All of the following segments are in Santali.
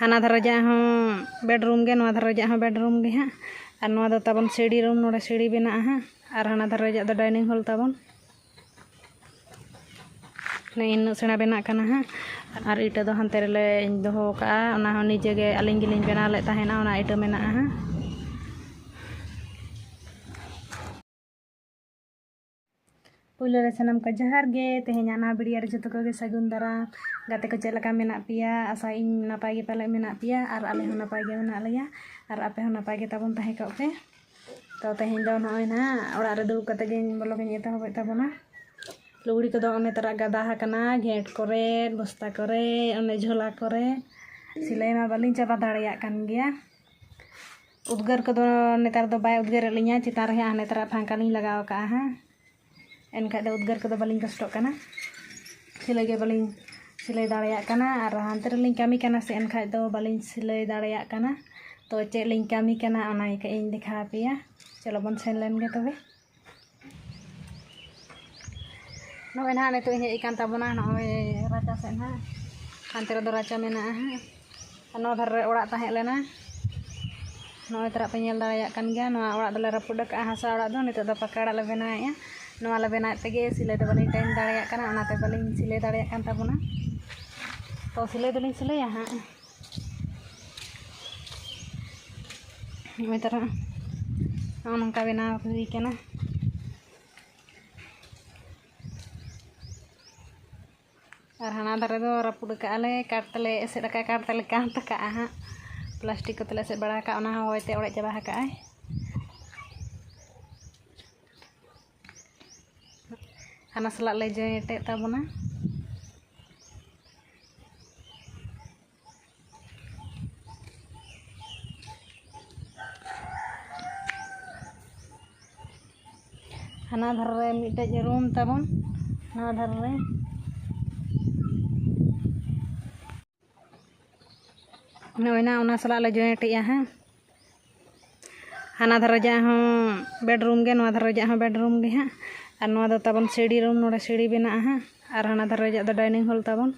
ᱦᱟᱱᱟ ᱫᱷᱟᱨᱮ ᱨᱮᱭᱟᱜ ᱦᱚᱸ ᱵᱮᱰᱨᱩᱢ ᱜᱮ ᱱᱚᱣᱟ ᱫᱷᱟᱨᱮ ᱨᱮᱭᱟᱜ ᱦᱚᱸ ᱵᱮᱰᱨᱩᱢ ᱜᱮ ᱦᱟᱸᱜ ᱟᱨ ᱱᱚᱣᱟ ᱫᱚ ᱛᱟᱵᱚᱱ ᱥᱤᱲᱤ ᱨᱩᱢ ᱱᱚᱰᱮ ᱥᱤᱲᱤ ᱢᱮᱱᱟᱜᱼᱟ ᱦᱟᱸᱜ ᱟᱨ ᱦᱟᱱᱟ ᱫᱷᱟᱨᱮ ᱨᱮᱭᱟᱜ ᱫᱚ ᱰᱟᱭᱱᱤᱝ ᱦᱚᱞ ᱛᱟᱵᱚᱱ ᱱᱮᱜᱼᱮ ᱱᱤᱱᱟᱹᱜ ᱥᱮᱬᱟ ᱵᱮᱱᱟᱜ ᱠᱟᱱᱟ ᱦᱟᱸᱜ ᱟᱨ ᱤᱴᱟᱹ ᱫᱚ ᱦᱟᱱᱛᱮ ᱨᱮᱞᱮ ᱫᱚᱦᱚ ᱠᱟᱜᱼᱟ ᱚᱱᱟ ᱦᱚᱸ ᱱᱤᱡᱮ ᱜᱮ ᱟᱹᱞᱤᱧ ᱜᱮᱞᱤᱧ ᱵᱮᱱᱟᱣ ᱞᱮᱫ ᱛᱟᱦᱮᱱᱟ ᱚᱱᱟ ᱤᱴᱟᱹ ᱢᱮᱱᱟᱜᱼᱟ ᱦᱟᱸᱜ ᱯᱩᱭᱞᱩ ᱨᱮ ᱥᱟᱱᱟᱢ ᱠᱚ ᱡᱚᱦᱟᱨ ᱜᱮ ᱛᱮᱦᱮᱧᱟᱜ ᱱᱚᱣᱟ ᱵᱷᱤᱰᱤᱭᱳ ᱨᱮ ᱡᱚᱛᱚ ᱠᱚᱜᱮ ᱥᱟᱹᱜᱩᱱ ᱫᱟᱨᱟᱢ ᱜᱟᱛᱮ ᱠᱚ ᱪᱮᱫ ᱞᱮᱠᱟ ᱢᱮᱱᱟᱜ ᱯᱮᱭᱟ ᱟᱥᱟᱭᱟᱹᱧ ᱱᱟᱯᱟᱭ ᱜᱮ ᱯᱟᱞᱮ ᱢᱮᱱᱟᱜ ᱯᱮᱭᱟ ᱟᱨ ᱟᱞᱮ ᱦᱚᱸ ᱱᱟᱯᱟᱭ ᱜᱮ ᱢᱮᱱᱟᱜ ᱞᱮᱭᱟ ᱟᱨ ᱟᱯᱮ ᱦᱚᱸ ᱱᱟᱯᱟᱭ ᱜᱮ ᱛᱟᱵᱚᱱ ᱛᱟᱦᱮᱸ ᱠᱚᱜ ᱯᱮ ᱛᱚ ᱛᱮᱦᱮᱧ ᱫᱚ ᱱᱚᱜᱼᱚᱭ ᱱᱟᱦᱟᱜ ᱚᱲᱟᱜ ᱨᱮ ᱫᱩᱲᱩᱵ ᱠᱟᱛᱮ ᱜᱮ ᱵᱞᱚᱜ ᱤᱧ ᱮᱛᱚᱦᱚᱵᱮᱫ ᱛᱟᱵᱚᱱᱟ ᱞᱩᱜᱽᱲᱤ ᱠᱚᱫᱚ ᱚᱱᱮ ᱛᱟᱨᱟ ᱜᱟᱫᱟ ᱟᱠᱟᱱᱟ ᱜᱷᱮᱸᱴ ᱠᱚᱨᱮ ᱵᱚᱥᱛᱟ ᱠᱚᱨᱮ ᱚᱱᱮ ᱡᱷᱚᱞᱟ ᱠᱚᱨᱮ ᱥᱤᱞᱟᱹᱭ ᱢᱟ ᱵᱟᱹᱞᱤᱧ ᱪᱟᱵᱟ ᱫᱟᱲᱮᱭᱟᱜ ᱠᱟᱱ ᱜᱮᱭᱟ ᱩᱫᱽᱜᱟᱹᱨ ᱠᱚᱫᱚ ᱱᱮᱛᱟᱨ ᱫᱚ ᱵᱟᱭ ᱩᱫᱽᱜᱟᱹᱨᱮᱫ ᱞᱤᱧᱟᱹ ᱪᱮᱛᱟᱱ ᱨᱮ ᱦᱟᱸᱜ ᱱᱮᱛᱟᱨᱟᱜ ᱯᱷᱟᱝᱠᱟ ᱞᱤᱧ ᱞᱟᱜᱟᱣ ᱠᱟᱜᱼᱟ ᱦᱟᱸᱜ ᱮᱱᱠᱷᱟᱡ ᱫᱚ ᱩᱫᱽᱜᱟᱹᱨ ᱠᱚᱫᱚ ᱵᱟᱹᱞᱤᱧ ᱠᱚᱥᱴᱚᱜ ᱠᱟᱱᱟ ᱥᱤᱞᱟᱹᱭ ᱜᱮ ᱵᱟᱹᱞᱤᱧ ᱥᱤᱞᱟᱹᱭ ᱫᱟᱲᱮᱭᱟᱜ ᱠᱟᱱᱟ ᱟᱨ ᱦᱟᱱᱛᱮ ᱨᱮᱞᱤᱧ ᱠᱟᱹᱢᱤ ᱠᱟᱱᱟ ᱥᱮ ᱮᱱᱠᱷᱟᱡ ᱫᱚ ᱵᱟᱹᱞᱤᱧ ᱥᱤᱞᱟᱹᱭ ᱫᱟᱲᱮᱭᱟᱜ ᱠᱟᱱᱟ ᱛᱚ ᱪᱮᱫ ᱞᱤᱧ ᱠᱟᱹᱢᱤ ᱠᱟᱱᱟ ᱚᱱᱟ ᱜᱮ ᱠᱟᱹᱡ ᱤᱧ ᱫᱮᱠᱷᱟᱣ ᱟᱯᱮᱭᱟ ᱪᱚᱞᱚ ᱵᱚᱱ ᱥᱮᱱ ᱞᱮᱱ ᱜᱮ ᱛᱚᱵᱮ ᱱᱚᱜᱼᱚᱭ ᱱᱟᱦᱟᱜ ᱱᱤᱛᱚᱜ ᱤᱧ ᱦᱮᱡ ᱟᱠᱟᱱ ᱛᱟᱵᱚᱱᱟ ᱱᱚᱜᱼᱚᱭ ᱨᱟᱪᱟ ᱥᱮᱫ ᱱᱟᱦᱟᱜ ᱦᱟᱱᱛᱮ ᱨᱮᱫᱚ ᱨᱟᱪᱟ ᱢᱮᱱᱟᱜᱼᱟ ᱦᱟᱸᱜ ᱟᱨ ᱱᱚᱣᱟ ᱫᱷᱟᱨᱮ ᱨᱮ ᱚᱲᱟᱜ ᱛᱟᱦᱮᱸ ᱞᱮᱱᱟ ᱱᱚᱜᱼᱚᱭ ᱛᱟᱨᱟᱜ ᱯᱮ ᱧᱮᱞ ᱫᱟᱲᱮᱭᱟᱜ ᱠᱟᱱ ᱜᱮᱭᱟ ᱱᱚᱣᱟ ᱚᱲᱟᱜ ᱫᱚᱞᱮ ᱨᱟᱹᱯᱩᱫ ᱟᱠᱟᱫᱼᱟ ᱦᱟᱥᱟ ᱚᱲᱟᱜ ᱫᱚ ᱱᱤᱛᱚᱜ ᱫᱚ ᱯᱟᱠᱟ ᱚᱲᱟᱜ ᱞᱮ ᱵᱮᱱᱟᱣᱮᱫᱼᱟ ᱱᱚᱣᱟ ᱞᱮ ᱵᱮᱱᱟᱣᱮᱫ ᱛᱮᱜᱮ ᱥᱤᱞᱟᱹᱭ ᱫᱚ ᱵᱟᱹᱞᱤᱧ ᱴᱟᱭᱤᱢ ᱫᱟᱲᱮᱭᱟᱜ ᱠᱟᱱᱟ ᱚᱱᱟᱛᱮ ᱵᱟᱹᱞᱤᱧ ᱥᱤᱞᱟᱹᱭ ᱫᱟᱲᱮᱭᱟᱜ ᱠᱟᱱ ᱛᱟᱵᱚᱱᱟ ᱛᱚ ᱥᱤᱞᱟᱹᱭ ᱫᱚᱞᱤᱧ ᱥᱤᱞᱟᱹᱭᱟ ᱦᱟᱸᱜ ᱱᱚᱜᱼᱚᱭ ᱛᱟᱨᱟ ᱱᱚᱜᱼᱚ ᱱᱚᱝᱠᱟ ᱵᱮᱱᱟᱣ ᱦᱩᱭ ᱠᱟᱱᱟ ᱟᱨ ᱦᱟᱱᱟ ᱫᱷᱟᱨᱮ ᱫᱚ ᱨᱟᱹᱯᱩᱫ ᱟᱠᱟᱫ ᱟᱞᱮ ᱠᱟᱴ ᱛᱮᱞᱮ ᱮᱥᱮᱫ ᱟᱠᱟᱫᱼᱟ ᱠᱟᱴ ᱛᱮᱞᱮ ᱠᱟᱸᱛ ᱟᱠᱟᱫᱼᱟ ᱦᱟᱸᱜ ᱯᱞᱟᱥᱴᱤᱠ ᱠᱚᱛᱮ ᱞᱮ ᱮᱥᱮᱫ ᱵᱟᱲᱟ ᱟᱠᱟᱫᱼᱟ ᱚᱱᱟ ᱦᱚᱸ ᱦᱚᱭᱛᱮ ᱚᱲᱮᱡ ᱪᱟᱵᱟ ᱟᱠᱟᱫᱼᱟᱭ ᱦᱟᱱᱟ ᱥᱟᱞᱟᱜ ᱞᱮ ᱡᱚᱭᱮᱱᱴ ᱮᱫ ᱛᱟᱵᱚᱱᱟ ᱦᱟᱱᱟ ᱫᱷᱟᱨᱮ ᱨᱮ ᱢᱤᱫᱴᱮᱡ ᱨᱩᱢ ᱛᱟᱵᱚᱱ ᱱᱚᱣᱟ ᱫᱷᱟᱨᱮ ᱨᱮ ᱱᱚᱜᱼᱚᱭ ᱱᱟ ᱚᱱᱟ ᱥᱟᱞᱟᱜ ᱞᱮ ᱡᱚᱭᱮᱱᱴ ᱮᱜᱼᱟ ᱦᱟᱸᱜ ᱦᱟᱱᱟ ᱫᱷᱟᱨᱮ ᱨᱮᱭᱟᱜ ᱦᱚᱸ ᱵᱮᱰᱨᱩᱢ ᱜᱮ ᱱᱚᱣᱟ ᱫᱷᱟᱨᱮ ᱨᱮᱭᱟᱜ ᱦᱚᱸ ᱵᱮᱰᱨᱩᱢ ᱜᱮ ᱦᱟᱸᱜ ᱟᱨ ᱱᱚᱣᱟ ᱫᱚ ᱛᱟᱵᱚᱱ ᱥᱤᱲᱤ ᱨᱩᱢ ᱱᱚᱰᱮ ᱥᱤᱲᱤ ᱵᱮᱱᱟᱜᱼᱟ ᱦᱟᱸᱜ ᱟᱨ ᱦᱟᱱᱟ ᱫᱷᱟᱨᱮ ᱨᱮᱭᱟᱜ ᱫᱚ ᱰᱟᱭᱱᱤᱝ ᱦᱚᱞ ᱛᱟᱵᱚᱱ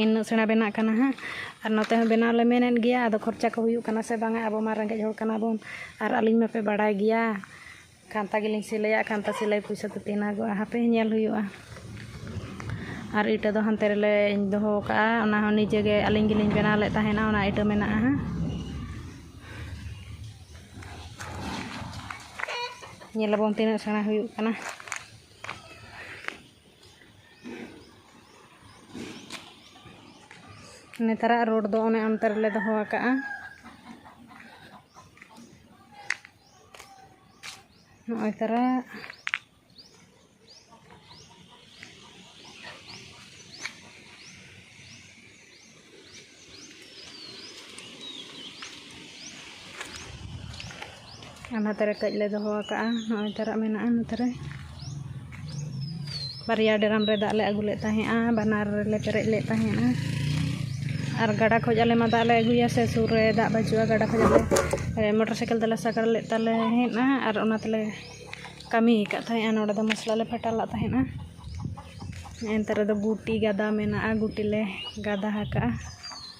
ᱤᱱᱟᱹᱜ ᱥᱮᱬᱟ ᱵᱮᱱᱟᱜ ᱠᱟᱱᱟ ᱦᱟᱸᱜ ᱟᱨ ᱱᱚᱛᱮ ᱦᱚᱸ ᱵᱮᱱᱟᱣ ᱞᱮ ᱢᱮᱱᱮᱫ ᱜᱮᱭᱟ ᱟᱫᱚ ᱠᱷᱚᱨᱪᱟ ᱠᱚ ᱦᱩᱭᱩᱜ ᱠᱟᱱᱟ ᱥᱮ ᱵᱟᱝᱟ ᱟᱵᱚ ᱢᱟ ᱨᱮᱸᱜᱮᱡ ᱦᱚᱲ ᱠᱟᱱᱟ ᱵᱚᱱ ᱟᱨ ᱟᱹᱞᱤᱧ ᱢᱟᱯᱮ ᱵᱟᱲᱟᱭ ᱜᱮᱭᱟ ᱠᱷᱟᱱᱛᱟ ᱜᱮᱞᱤᱧ ᱥᱤᱞᱟᱹᱭᱟ ᱠᱷᱟᱱᱛᱟ ᱥᱤᱞᱟᱹᱭ ᱯᱚᱭᱥᱟ ᱫᱚ ᱛᱤᱱ ᱦᱟᱜᱚᱜᱼᱟ ᱦᱟᱯᱮ ᱧᱮᱞ ᱦᱩᱭᱩᱜᱼᱟ ᱟᱨ ᱤᱴᱟᱹ ᱫᱚ ᱦᱟᱱᱛᱮ ᱨᱮᱞᱮ ᱫᱚᱦᱚ ᱠᱟᱜᱼᱟ ᱚᱱᱟ ᱦᱚᱸ ᱱᱤᱡᱮ ᱜᱮ ᱟᱹᱞᱤᱧ ᱜᱮᱞᱤᱧ ᱵᱮᱱᱟᱣ ᱞᱮᱫ ᱛᱟᱦᱮᱱᱟ ᱚᱱᱟ ᱤᱴᱟᱹ ᱢᱮᱱᱟᱜᱼᱟ ᱦᱟᱸᱜ ᱧᱮᱞ ᱟᱵᱚᱱ ᱛᱤᱱᱟᱹᱜ ᱥᱮᱬᱟ ᱦᱩᱭᱩᱜ ᱠᱟᱱᱟ ᱱᱮᱛᱟᱨᱟᱜ ᱨᱳᱰ ᱫᱚ ᱚᱱᱮ ᱚᱱᱛᱮ ᱨᱮᱞᱮ ᱫᱚᱦᱚ ᱟᱠᱟᱜᱼᱟ ᱱᱚᱜᱼᱚᱭ ᱛᱟᱨᱟ ᱚᱱᱟ ᱛᱟᱨᱟ ᱠᱟᱹᱡ ᱞᱮ ᱫᱚᱦᱚ ᱟᱠᱟᱫᱼᱟ ᱱᱚᱜᱼᱚᱭ ᱛᱟᱨᱟ ᱢᱮᱱᱟᱜᱼᱟ ᱱᱚᱛᱮ ᱨᱮ ᱵᱟᱨᱭᱟ ᱰᱨᱟᱢ ᱨᱮ ᱫᱟᱜ ᱞᱮ ᱟᱹᱜᱩ ᱞᱮᱫ ᱛᱟᱦᱮᱸᱜᱼᱟ ᱵᱟᱱᱟᱨ ᱨᱮᱞᱮ ᱯᱮᱨᱮᱡ ᱞᱮᱫ ᱛᱟᱦᱮᱸᱜᱼᱟ ᱟᱨ ᱜᱟᱰᱟ ᱠᱷᱚᱡ ᱟᱞᱮ ᱢᱟ ᱫᱟᱜ ᱞᱮ ᱟᱹᱜᱩᱭᱟ ᱥᱮ ᱥᱩᱨ ᱨᱮ ᱫᱟᱜ ᱵᱟᱹᱪᱩᱜᱼᱟ ᱜᱟᱰᱟ ᱠᱷᱚᱡ ᱟᱞᱮ ᱢᱚᱴᱚᱨ ᱥᱟᱭᱠᱮᱞ ᱛᱮᱞᱮ ᱥᱟᱜᱟᱲ ᱞᱮᱫ ᱛᱟᱦᱮᱸᱜᱼᱟ ᱟᱨ ᱚᱱᱟ ᱛᱮᱞᱮ ᱠᱟᱹᱢᱤ ᱟᱠᱟᱫ ᱛᱟᱦᱮᱸᱜᱼᱟ ᱱᱚᱰᱮ ᱫᱚ ᱢᱚᱥᱞᱟ ᱞᱮ ᱯᱷᱟᱴᱟᱣ ᱞᱮᱫ ᱛᱟᱦᱮᱸᱜᱼᱟ ᱮᱱᱛᱮ ᱨᱮᱫᱚ ᱜᱩᱴᱤ ᱜᱟᱫᱟ ᱢᱮᱱᱟᱜᱼᱟ ᱜᱩᱴᱤ ᱞᱮ ᱜᱟᱫᱟ ᱟᱠᱟᱫᱼᱟ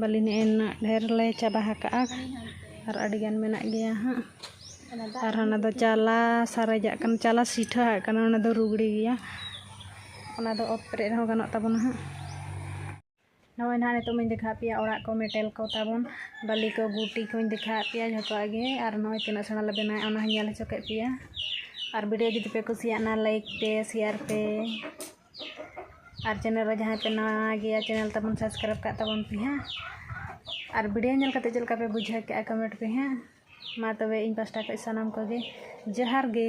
ᱵᱟᱹᱞᱤ ᱱᱮᱜᱼᱮ ᱱᱩᱱᱟᱹᱜ ᱰᱷᱮᱹᱨ ᱞᱮ ᱪᱟᱵᱟ ᱟᱠᱟᱫᱼᱟ ᱟᱨ ᱟᱹᱰᱤ ᱜᱟᱱ ᱢᱮᱱᱟᱜ ᱜᱮᱭᱟ ᱦᱟᱸᱜ ᱟᱨ ᱚᱱᱟ ᱫᱚ ᱪᱟᱞᱟ ᱥᱟᱨᱮᱡᱟᱜ ᱠᱟᱱᱟ ᱪᱟᱞᱟ ᱥᱤᱴᱷᱟᱹ ᱟᱜ ᱠᱟᱱᱟ ᱚᱱᱟ ᱫᱚ ᱨᱩᱜᱽᱲᱤ ᱜᱮᱭᱟ ᱚᱱᱟ ᱫᱚ ᱚᱛ ᱯᱮᱨᱮᱡ ᱨᱮᱦᱚᱸ ᱜᱟᱱᱚᱜ ᱛᱟᱵᱚᱱᱟ ᱦᱟᱸᱜ ᱱᱚᱜᱼᱚᱭ ᱱᱟᱦᱟᱸᱜ ᱱᱤᱛᱚᱜ ᱢᱟᱧ ᱫᱮᱠᱷᱟᱣᱟᱫ ᱯᱮᱭᱟ ᱚᱲᱟᱜ ᱠᱚ ᱢᱮᱴᱮᱞ ᱠᱚ ᱛᱟᱵᱚᱱ ᱵᱟᱹᱞᱤ ᱠᱚ ᱜᱩᱴᱤ ᱠᱚᱧ ᱫᱮᱠᱷᱟᱣᱟᱫ ᱯᱮᱭᱟ ᱡᱚᱛᱚᱣᱟᱜ ᱜᱮ ᱟᱨ ᱱᱚᱜᱼᱚᱭ ᱛᱤᱱᱟᱹᱜ ᱥᱮᱬᱟ ᱞᱮ ᱵᱮᱱᱟᱣᱮᱫᱼᱟ ᱚᱱᱟ ᱦᱚᱸᱧ ᱧᱮᱞ ᱦᱚᱪᱚ ᱠᱮᱫ ᱯᱮᱭᱟ ᱟᱨ ᱵᱷᱤᱰᱤᱭᱳ ᱡᱩᱫᱤ ᱯᱮ ᱠᱩᱥᱤᱭᱟᱜᱼᱟ ᱞᱟᱭᱤᱠ ᱯᱮ ᱥᱮᱭᱟᱨ ᱯᱮ ᱟᱨ ᱪᱮᱱᱮᱞ ᱨᱮ ᱡᱟᱦᱟᱸᱭ ᱯᱮ ᱱᱟᱣᱟ ᱜᱮᱭᱟ ᱪᱮᱱᱮᱞ ᱛᱟᱵᱚᱱ ᱥᱟᱵᱥᱠᱨᱟᱭᱤᱵᱽ ᱠᱟᱜ ᱛᱟᱵᱚᱱ ᱯᱮ ᱦᱟᱸᱜ ᱟᱨ ᱵᱷᱤᱰᱤᱭᱳ ᱧᱮᱞ ᱠᱟᱛᱮ ᱪᱮᱫ ᱞᱮᱠᱟ ᱯᱮ ᱵᱩᱡᱷᱟᱹᱣ ᱠᱮᱜᱼᱟ ᱠᱚᱢᱮᱱᱴ ᱯᱮ ᱦᱟᱸᱜ ᱢᱟ ᱛᱚᱵᱮ ᱤᱧ ᱯᱟᱥᱴᱟ ᱠᱷᱚᱡ ᱥᱟᱱᱟᱢ ᱠᱚᱜᱮ ᱡᱚᱦᱟᱨ ᱜᱮ